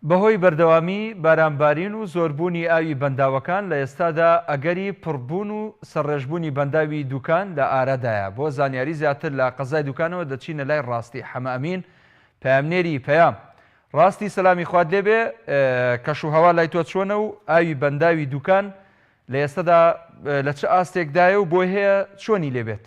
بەهۆی بەردەوامی بارانبارین و زۆربوونی ئاوی بەنداوەکان، لە ئێستادا ئەگەری پڕبوون و سەرڕێژبوونی بەنداوی دوکان لە ئارادایە، بۆ زانیاری زیاتر لە قەزای دوکانەوە دەچینە لای ڕاستی حەمە ئەمین پەیامنێری پەیام. ڕاستی سەلامی خوات لێ بێ، کەش و هەوا لای تۆ چۆنە و ئاوی بەنداوی دوکان لە ئێستادا لە چ ئاستێکدایە و بۆی هەیە چۆنی لێ بێت؟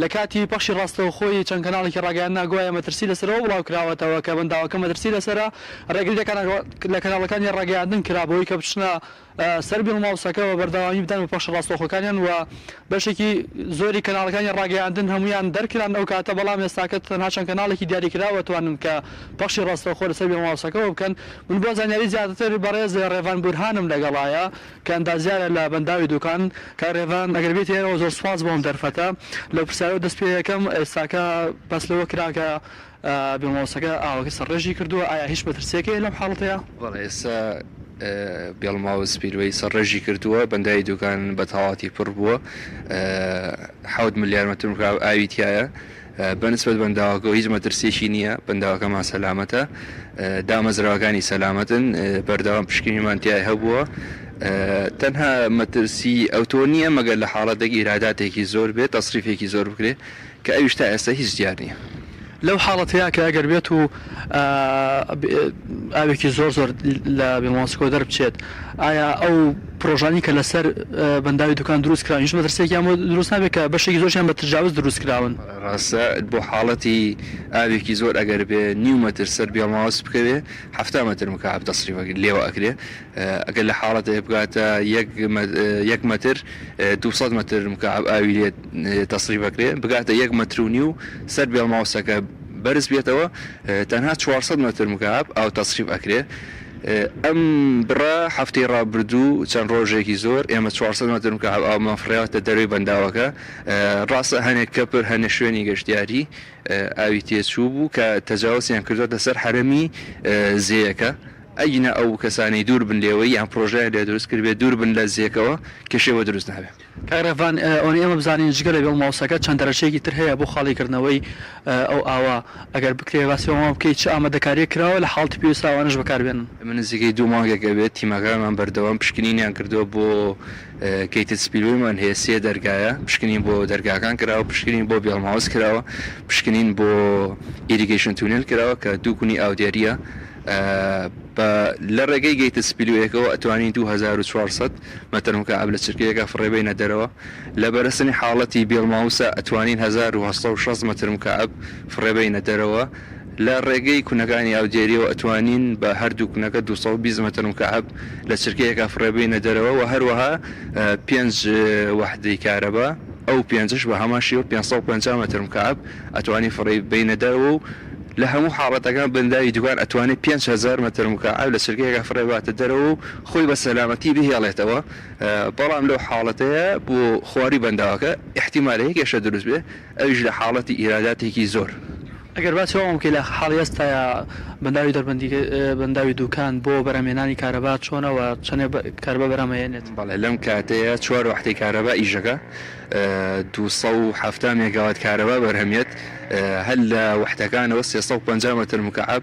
لە کاتی پەخشی ڕاستەوخۆی چەند کەناڵێکی ڕاگەیاندنا گوایە مەترسی لەسەرەوە بڵاوکراوەتەوە کە بەنداوەکە مەترسی لەسەرە، ڕێگری لە کەناڵ لە کەناڵەکانی ڕاگەیاندن کرا بەوەی کە بچنە سەر بیڵ ماوسەکە و بەردەوامی بدەن بە پەخشی ڕاستەوخۆکانیان و بەشێکی زۆری کەناڵەکانی ڕاگەیاندن هەموویان دەرکران ئەو کاتە بەڵام ئێستاکە تەنها چەند کەناڵێکی دیاریکراوە توانن کە پەخشی ڕاستەوخۆ لەسەر بیڵ ماوسەکەوە بکەن من بۆ زانیاری زیاتر بەڕێز ڕێڤان بورهانم لەگەڵایە کە ئەندازیارە لە بەنداوی دوکان. کاک رێڤان ئەگەر بێیتە ئێرەوە زۆر سوپاس بۆ ئەم دەرفەتە. لەو پرسیارەوە دەست پێ ئەکەم، ئێستاکە باس لەوە کرا کە بێ ماوسەکە ئاوەکە سەرڕێژی کردووە، ئایا هیچ مەترسییەک هەیە لەم حاڵەتەیا؟ بەڵێ ئێستا بێڵ ماوس پیلوەی سەرڕێژی کردووە، بەنداوی دوکان بە تەواوەتی پڕ بووە، حەوت ملیار مەتر مکعەب ئاوی تیایە، بە نسبەت بەنداوەکەوە هیچ مەترسیەکی نییە، بەنداوەکەمان سەلامەتە، دامەزراوەکانی سەلامەتن، بەردەوام پشکنینمان تیای هەبووە، تەنها مەترسی ئەوتۆ نییە مەگەر لە حاڵەتێک ئیراداتێکی زۆر بێت تەسریفێکی زۆر بکرێت کە ئەویش تا ئێستا هیچ دیار نییە. لەو حاڵەتەیا کە ئەگەر بێتوو ئاوێکی زۆر زۆر لە بێمۆسکۆ دەربچێت، ئایا ئەو پرۆژانەی کە لەسەر بەنداوی دوکان دروست کراون هیچ مەترسیەکیان بۆ دروست نابێت کە بەشێکی زۆرشیان بە تجاوز دروست کراون؟ ڕاستە بۆ حاڵەتی ئاوێکی زۆر ئەگەر بێ نیو مەتر سەر بیڵم هاوس بکەوێ حەفتا مەتر مکعەب تەسریف لێوە ئەکرێ ئەگەر لە حاڵەتێ بگاتە یەک یەک مەتر دوو سەد مەتر مکعەب ئاوی لێ تەسریف ئەکرێ بگاتە یەک مەتر و نیو سەر بیڵم هاوسەکە بەرز بێتەوە تەنها چوار سەد مەتر مکعەب ئاو تەسریف ئەکرێ ئەم بڕە هەفتەی ڕابردوو چەند ڕۆژێکی زۆر ئێمە چوار سەد مەتر مکەعەب ئاومان فڕێاوەتە دەروی بەنداوەکە، ڕاستە هەنێک کەپر هەنێ شوێنی گەشتیاری ئاوی تێچوو بوو کە تەجاوسیان کردۆتە سەر حەرەمی زێیەکە، ئەگینا ئەو کەسانەی دوور بن لێوەی یان پرۆژەیان لێ دروست کردبێ دوور بن لە زێکەوە کێشەی بۆ دروست نابێ. کاک رێڤان ئۆنی ئێمە بزانین جگە لە بێڵ ماوسەکە چەند دەرەچەیەکی تر هەیە بۆ خاڵی کردنەوەی ئەو ئاوە ئەگەر بکرێ باسی ئەوان بکەی چ ئامادەکاریەک کراوە لە حاڵتی پێویستا ئەوانەش بەکار بێنن. ئێمە نزیکەی دوو مانگێک ئەبێت تیمەکانمان بەردەوام پشکنینیان کردووە بۆ گەیتد سپیلوەیمان هەیە سێ دەرگایە پشکنین بۆ دەرگاکان کراوە پشکنین بۆ بێڵ ماوس کراوە پشکنین بۆ ئیریگەیشن تونێل کراوە کە دوو گونی ئاودێریە بە لە ڕێگەی گەیتد سپیلوەیەکەوە ئەتوانی دوو هەزار و چوار سەد مەترم کە ئاب لە چرکەیەکا فڕێ بەینە دەرەوە لە بەرەسنی حاڵەتی بێڵ ماوسا ئەتوانین هەزار و هەشت سەد و شەست مەتر مکەعەب فڕێ بەینە دەرەوە لە ڕێگەی کونەکانی ئاودێریەوە ئەتوانین بە هەردوو کونەکە دوو سەد و بیست مەتر مکەعەب لە چرکەیەکا فڕێ بەینە دەرەوە وە هەروەها پێنج وەحدەی کارەبا ئەو پێنجەش بە هەمان شێوە پێنج سەد و پەنجا مەتر مکەعەب ئەتوانین فڕێ بەینە دەرەوە و لە هەموو حاڵەتەکان بەنداوی دووکان ئەتوانێ پێنج هەزار مەتر مکەعەب لە چرکەیەکا فڕێ باتە دەرەوە و خۆی بە سەلامەتی بهێڵێتەوە، بەڵام لەو حاڵەتەیا بۆ خواری بەنداوەکە ئیحتیمالە یەک ئێشە دروست بێ ئەویش لە حاڵەتی ئیراداتێکی زۆر. ئەگەر باسی ئەوەم بکەی لە حاڵی ئێستایا بەنداوی دەربەندیک بەنداوی دوکان بۆ بەرهەمهێنانی کارەبا چۆنە و چەنێ کارەبا بەرهەم ئەهێنێت؟ بەڵێ لەم کاتەیا چوار وەحدەی کارەبا ئیشدەکا دوو سەد و حەفتا مێگاوات کارەبا بەرهەمیێت هەر لە وەحدەکانەوە سێ سەد و پەنجا مەتر مکەعەب،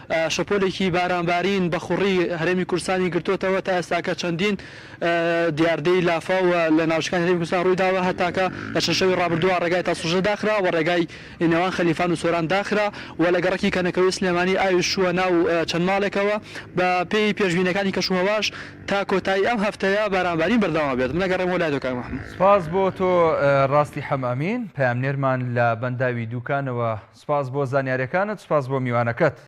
شەپۆلێکی بارانبارین بە خوڕی هەرێمی کوردستانی گرتۆتەوە، تا ئێستاکە چەندین دیاردەی لافاو لە ناوچەکانی هەرێمی کوردستان روویداوە، هەتاکە لە چەند شەوی رابردووە رێگای تاسڵژە داخرا و رێگای نێوان خەلیفان و سۆران داخرا و لە گەڕەکی کەنەکەوەی سلێمانی ئاوی شووە ناو چەند ماڵێکەوە، بە پێی پێشبینیەکانی کەشوهەواش تا کۆتایی ئەم هەفتەیە بارانبارین بەردەوام ئەبێت. من ئەگەڕێمەوە لای تۆ کاک محمود. سپاس بۆ تۆ راستی حەم ئەمین، پەیامنێرمان لە بەنداوی دووکانەوە، سپاس بۆ زانیاریەکانت، سپاس بۆ میوانەکەت.